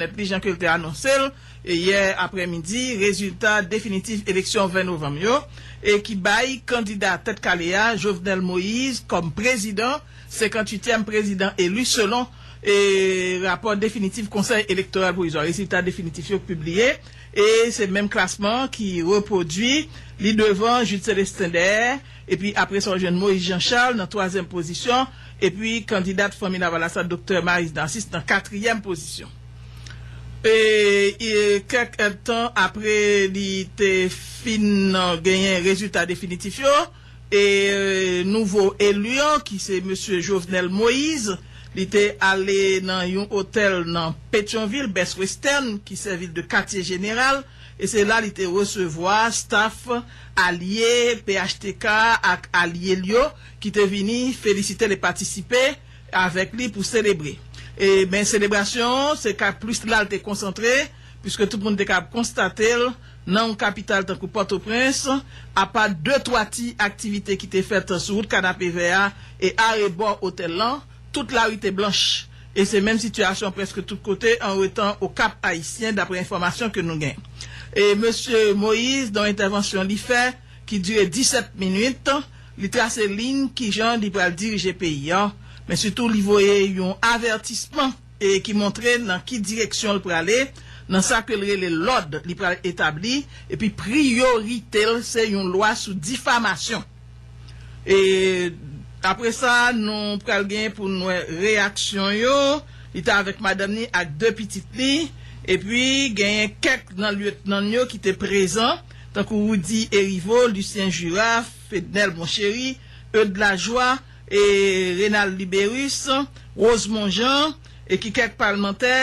Nèt li jan ke l te anonse l yè aprè midi rezilta definitif eleksyon 20 novanm yo e ki bay kandida tèt kale a Jovenel Moïse kòm prezidan, 58 tièm prezidan elu selon e rapò definitif konsèy elektoral pwovizwa. Rezilta definitif yo pibliye e se menm klasman ki repwodui li devan Jude Celestin Dè Epi apre sa w jwenn Moïse Jean Charles nan twazyèm pozisyon, epi kandidat Fanmi Lavalas la Doktè Maryse Narcisse nan katriyèm pozisyon. E kèk èdtan apre li te fin genyen rezilta definitif yo, e nouvo eli an ki se Mesye Jovenel Moïse, li te ale nan yon otèl nan Petyonvil, Best Western, ki sèvi l de katye jeneral. e se la li te resevwa staf alye phtk ak alye l yo ki te vini felisite l e patisipe avèk li pou selebre. E men selebrasyon an se ka plis la l te konsantre puiske tout moun te kab konstate l nan yon kapital tankou Pòtoprens apa de twa ti aktivite ki te fèt sou wout Kanapevè a e arebò otèl lan Tout lari te blanch, e se menm sitiyasyon prèske tout kote anwetan o Kap Ayisyen daprè enfòmasyon ke nou gen. E mesye Moïse nan entèvansyon li fè ki dire 17 minit, li trase liy kijan li pral dirije peyi an, men sitou li voye yon avètisman e ki montre nan ki direksyon l prale nan sa ke l rele lòd li pral etabli epi priyorite l se yon lwa sou difamasyon. E apre sa nou pral gen pou n wè reyaksyon yo. Li te avèk madanm ni ak de pitit li. Epi genyen kèk nan lyetnan l yo ki te prezan, tankou Rudy Hériveaux, Lucien Jura, Fednel Monchéry, Eudes Lajoie e Rénald Libérus, Rosemond Jean, e ki kèk palmantè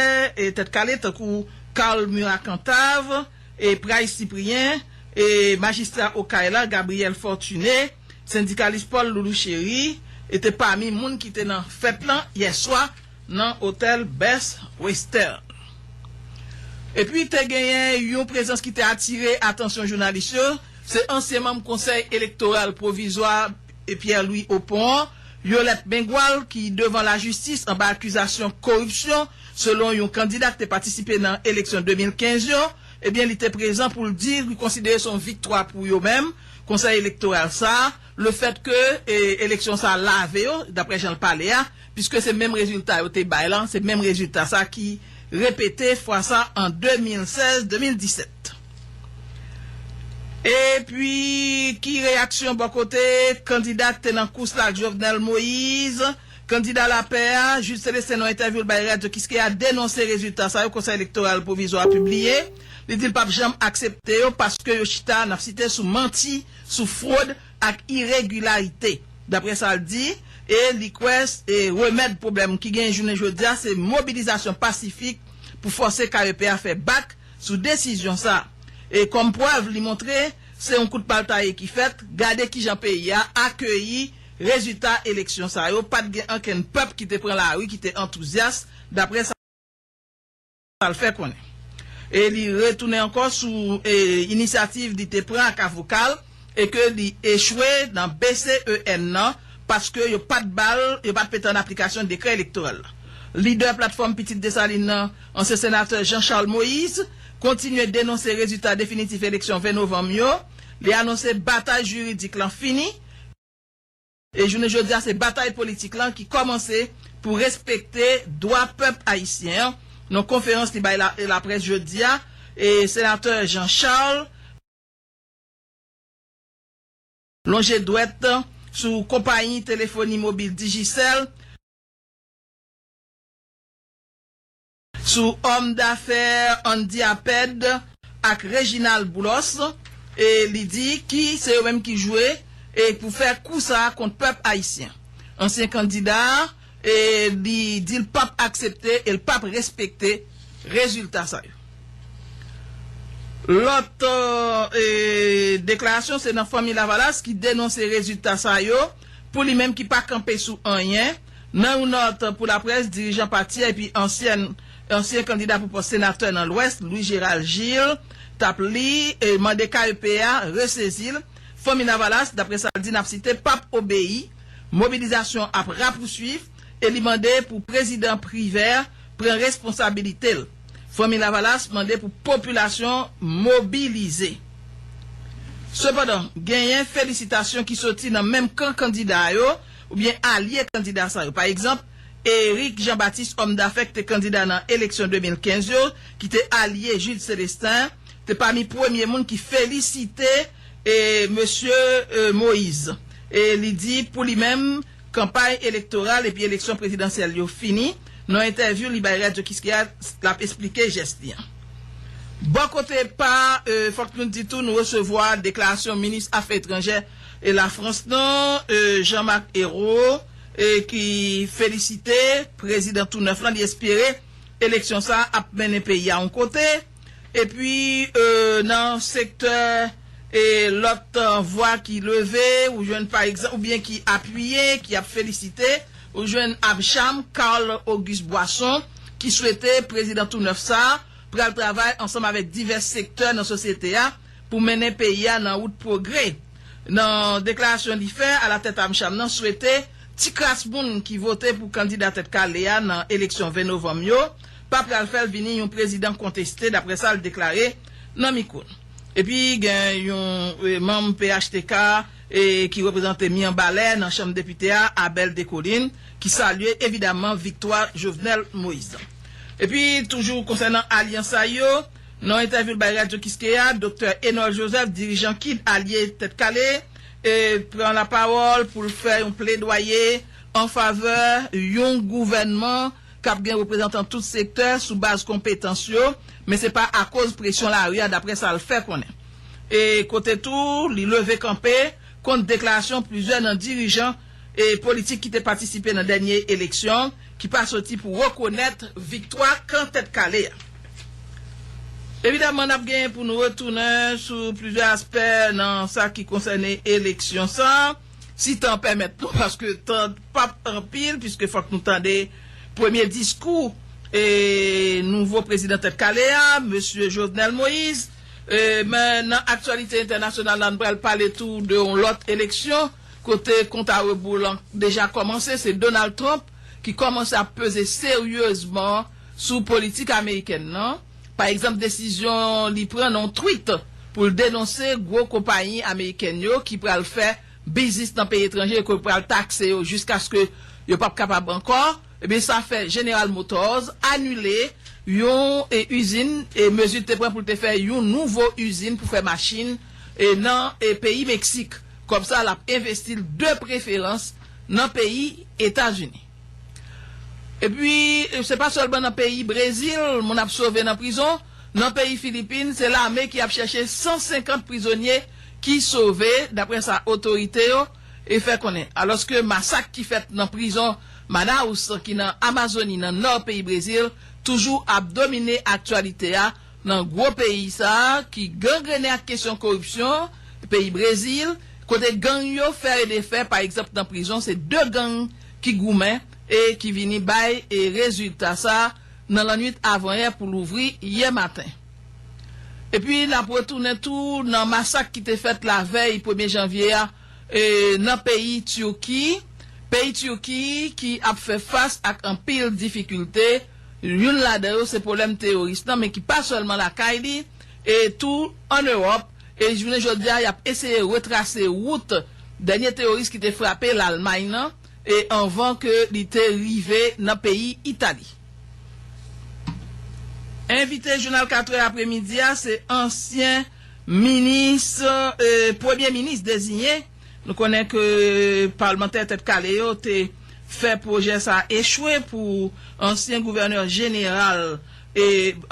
Tèt Kale tankou Carl Murat Cantave, e Pray Cyprien, e majistra Okay la Gabriel Fortuné, sendikalis Paul Loulou Chéry, e te pami moun ki te nan fèt lan yè swa nan otèl Best Western. Epi te genyen yon prezans ki te atire atansyon jounalis yo, se ansyen manm konsèy elektoral pwovizwa, Pierre Louis Opont, Yolette Mengual ki devan lajistis anba akizasyon koripsyon selon yon kandida k te patisipe nan eleksyon 2015 yo, ebyen li te prezan pou l di li konsidere se yon viktwa pou yo menm, Konsèy Elektoral sa, lefèt ke eleksyon sa lave yo, daprè jan l pale a, piske se menm rezilta yo te bay lan, se menm rezilta sa ki repete fwa sa an 2016, 2017. Epi ki reyaksyon bò kote kandida k te nan kous la ak Jovenel Moise? Kandida lapè a, Jude Celestin nan entèvyou l bay Radyo Kiskeya denonse rezilta sa yo Konsèy Elektoral Pwovizwa a pibliye. Li di l pap janm aksepte yo paske yo chita, n ap site, sou manti, sou fwod ak iregilarite, daprè sa l di, e li kwè remèd pwoblèm ki genyen jounen jodi a se mobilizasyon pasifik pou fòse KEP a fè bak. sou desizyon sa e kòm prèv li montre se yon kout pal taye ki fèt, gade kijan peyi a akeyi rezita eleksyon sa yo, pat gen ankenn pèp ki te pran lari ki te antouzyas daprè sa l fè konnen e li retounen ankò sou inisyativ li te pran ak avoka l. e ke li echwe nan BCEN nan paske yo pa t ba l, yo pa t mete an aplikasyon dekrè elektoral la. Lidè Platfòm Pitit Desalin nan, ansyen senatè Jean Charles Moïse, kontinye denonse rezilta definitif eleksyon 20 novanm yo, li anonse batay jiridik lan fini, e jounen jodi a se batay politik lan ki kòmanse pou respekte dwa pèp ayisyen an, nan konferans li bay laprès jodi a, senatè Jean Charles. Lonje dwèt sou konpayi telefoni mobil Digicel, sou òm dafè Andy Aped ak Reginald Boulos, e li di ki se yo menm ki jwe e pou fè kou sa kont pèp ayisyen. Ansyen kandida a E li di l pap aksepte e l pap respekte rezilta sa yo. Lòt deklarasyon se nan Fanmi Lavalas ki denonse rezilta sa yo pou li menm ki pa kanpe sou anyen. Nan yon nòt pou laprès, dirijan pati a epi ansyen kandida pou pòs senatè nan Lwès, Louis Gérald Gilles, t ap li mande KEP a resezi l. Fanmi Lavalas, daprè sa l di n ap site, p ap obeyi, mobilizasyon ap rapousuiv e li mande pou prezidan Privert pran responsabilite l. Fanmi Lavalas mande pou popilasyon mobilize. Sepandan, genyen felisitasyon ki soti nan menm kan kandida yo oubyen alye kandida sa yo. Pa egzanp, Eric Jean Baptiste, òm dafè ki te kandida nan eleksyon 2015 yo, ki te alye Jude Celestin, te pami premye moun ki felisite Mesye Moise e li di pou li menm kanpay elektoral epi eleksyon prezidansyèl yo fini. Nan entèvyou li bay Radyo Kiskeya, l ap esplike jès li an. Bò kote pa fòk nou di tou nou resevwa deklarasyon minis afè etranjè Lafrans nan Jean Marc Ayrault ki felisite prezidan tou nèf lan, li espere eleksyon sa ap mennen peyi a yon kote. Epi nan sektè e lòt vwa ki leve, ou jwenn pa egzanp, oubyen ki apiye, ki ap felisite, ou jwenn Abcham Carl Auguste Boisson ki swete prezidan tou nèf sa a pral travay ansanm avèk divès sektè nan sosyete a pou mennen peyi a nan wout pwogrè. Nan deklarasyon li fè, alatèt Amcham nan swete ti kras moun ki vote pou kandida Tèt Kale a nan eleksyon 20 novanm yo, pa pral fè l vini yon prezidan konteste, daprè sa l deklare nan mikwo n. Epi gen yon manm phtk ki reprezante Mianbalè nan chanm depite a, Abel Descollines, ki salye evidaman viktwa Jovenel Moïse lan. Epi toujou konsènan alyans sa yo, nan yon entèvyou l bay Radyo Kiskeya, doktè Enol Joseph, dirijan kid alye Tèt Kale, pran lapawòl pou l fè yon pledwaye anfavè yon gouvènman. k ap gen reprezantan tout sektè sou baz konpetans yo, men se pa akoz presyon lari a, daprè sa l fè konnen. E kote tou, li leve kanpe kont deklarasyon plizyè nan dirijan politik ki te patisipe nan dènye eleksyon ki pa soti pou rekonèt viktwa kan Tèt Kale a. Evidaman, n ap gen pou nou retounen sou plizyè aspè nan sa ki konsène eleksyon sa. Si tan pèmèt nou, paske tan pap anpil, piske fòk nou tande premye diskou nouvo prezidan tèt kale a, mesye Jovenel Moïse. Men nan aktyalite entènasyonal la, nou pral pale tou de yon lòt eleksyon, kote kont a reboul an deja kòmanse, se Donald Trump ki kòmanse ap peze seryezman sou politik amerikèn nan. Pa egzanp desizyon li pran nan yon tweet pou l denonse gwo konpayi amerikèn yo ki pral fè biznis nan peyi etranje e ke yo pral takse yo jiskaske yo p ap kapab ankò, ebyen sa fè General Motors anile yon izin e mezi l te pran pou l te fè yon nouvo izin pou fè machin nan peyi Meksik. Kòb sa l ap envesti l de preferans nan peyi Etazini. Epi, se pa sèlman nan peyi Brezil moun ap sove nan prizon, nan peyi Filipin se lame ki ap chèche 150 prizonye ki sove, daprè sa otorite yo fè konnen. Alòske masak ki fèt nan prizon Manaus ki nan Amazoni nan nò peyi Brezil toujou ap domine aktyalite a, Nan gwo peyi sa a ki gangrene ak kesyon koripsyon, peyi Brezil, kote gang yo fè e defè, pa egzanp nan prizon se 2 gang ki goumen e ki vini bay rezilta sa nan lannwit avanyè pou louvri yè maten. Epi n ap retounen tou nan masak ki te fèt lavèy premye janvye a nan peyi Tirki, peyi Tirki ki ap fè fas ak anpil difikilte, Youn ladan yo se pwoblèm teyoris lan men ki pa sèlman lakay li e tou an Ewòp e jis jounen jodi a y ap eseye retrase wout dènye teyoris ki te frape Lalmay nan e anvan ke li te rive nan peyi Itali. Envite jounal katrè apremidi a se ansyen minis premye minis deziyen. Nou konnen ke palmantè tèt kale yo te fè pwojè sa a echwe pou ansyen gouvènè jeneral,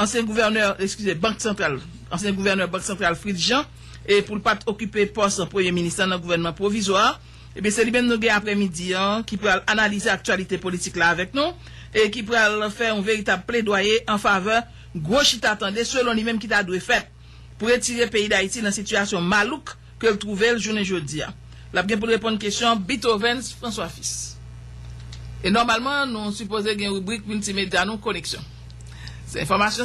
ansyen gouvènè, eskize, bank santral, ansyen gouvènè bank santral Fritz Jean, pou l pa t okipe pòs premye minis la nan gouvènman pwovizwa a. Ebyen se li menm nou gen aprèmidi an ki pral analize aktyalite politik la avèk nou e ki pral fè yon veritab pledwaye anfavè gwo chita tande selon li menm ki ta dwe fèt. pou retire peyi Dayiti nan sitiyasyon malouk ke l twouve l jounen jodi a. L ap gen pou l reponn kesyon Bithovens François Fils. E nòmalman nou sipoze gen ribrik miltimedya nou Koneksyon. Se enfòmasyon.